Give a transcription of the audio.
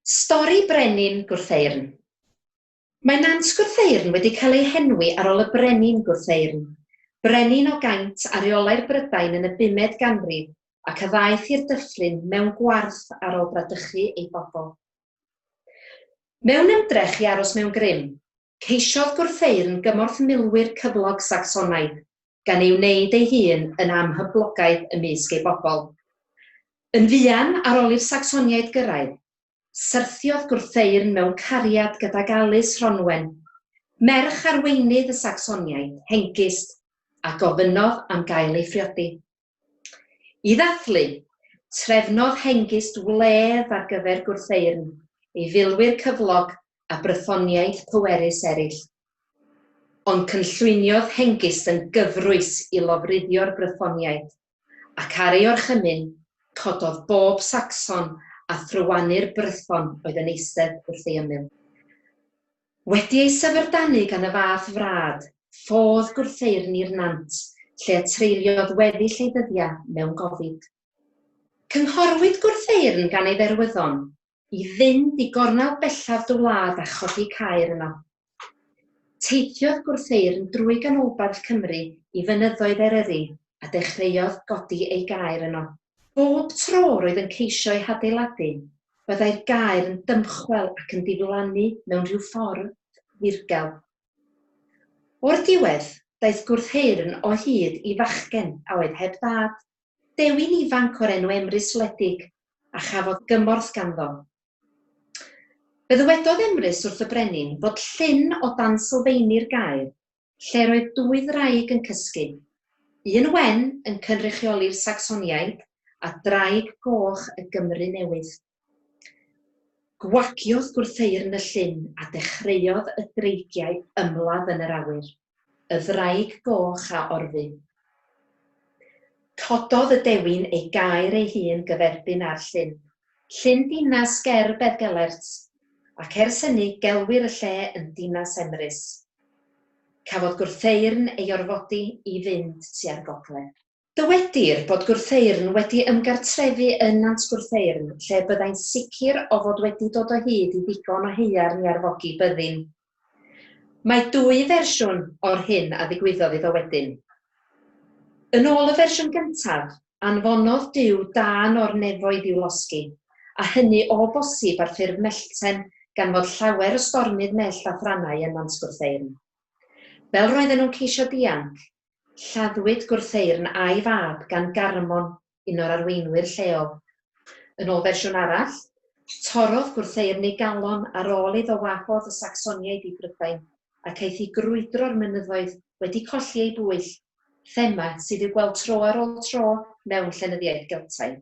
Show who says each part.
Speaker 1: Stori Brenin Gwrtheyrn Mae Nant Gwrtheyrn wedi cael ei henwi ar ol y Brenin Gwrtheyrn, brenin o gaint a reolai'r Brydain yn y bumed ganrif ac a ddaeth i'r Dyffryn mewn gwarth ar ol bradychu ei bobl. Mewn ymdrech i aros mewn grym, Ceisiodd gwrtheyrn gymorth milwyr cyflog Sacsonaidd, gan ei wneud ei hun yn amhyblogaidd ymysg ei bobl. Yn fuan ar ol i'r Sacsoniaid gyrraedd, syrthiodd gwrtheyrn mewn cariad gydag Alys Rhonwen, merch arweinydd y Sacsoniaid, Hengist, a gofynnodd am gael ei phriodi. I ddathlu, trefnodd Hengist wledd ar gyfer gwrtheyrn ei filwyr cyflog a Brythoniaid pwerus eraill. Ond cynllwyniodd Hengist yn gyfrwys i lofruddio'r Brythoniaid, ac ar ei orchymyn, cododd bob Sacson a thrywannur Brython oedd yn eistedd wrth ei ymyl. Wedi ei syfrdanu gan y fath frad, ffodd gwrtheirni'r nant lle y treuliodd weddill ei ddyddiau mewn gofid. Cynghorwyd Gwrtheyrn gan ei dderwyddon i fynd i gornel bellaf dy wlad a chodi caer yno. Teithiodd Gwrtheyrn drwy ganolbarth Cymru i fynyddoedd Eryri a dechreuodd godi ei gaer yno. Bob tro roedd yn ceisio ei hadeiladu, byddai'r gaer yn dymchwel ac yn diflannu mewn rhyw ffordd ddirgel. O'r diwedd, daeth gwrtheyrn o hyd i fachgen a oedd heb ddad, dewin ifanc o'r enw Emrys wledig, a chafodd gymorth ganddo. Fe ddywedodd Emrys wrth y brenin fod llyn o dan sylfeini'r gaer lle'r oedd dwy ddraig yn cysgu, un wen yn cynrychioli'r Sacsoniaid a draig goch y Gymru Newydd. Gwagiodd gwrtheyrn y llyn a dechreuodd y dreigiau ymladd yn yr awyr, y ddraig goch a orfu. Cododd y dewin ei gaer ei hun gyferbyn â'r llyn, Llyn dinas ger Beddgelert, ac ers hynny gelwir y lle yn Dinas Emrys. Cafodd Gwrtheyrn ei orfodi i fynd tua'r gogledd. Dywedir bod Gwrtheyrn wedi ymgartrefu yn Nant Gwrtheyrn lle byddai'n sicr o fod wedi dod o hyd i ddigon o haearn i arfogi byddin Mae dwy fersiwn o'r hyn a ddigwyddodd iddo wedyn. Yn ôl y fersiwn gyntaf, anfonodd Duw dân o'r nefoedd i'w losgi, a hynny o bosib ar ffurf mellten gan fod llawer o stormydd mellt a thrannau ym Mhant Gwrtheyrn. Fel roedden nhw'n ceisio dianc, lladdwyd Gwrtheyrn a'i fab gan Garmon un o'r arweinwyr lleol. Yn ôl fersiwn arall, torrodd gwrtheyrnu galon ar ôl iddo wahodd y Sacsoniaid i Brydain ac aeth i grwydro'r mynyddoedd wedi colli ei bwyll, thema sydd i'w gweld tro ar ôl tro mewn llenyddiaeth Geltaidd.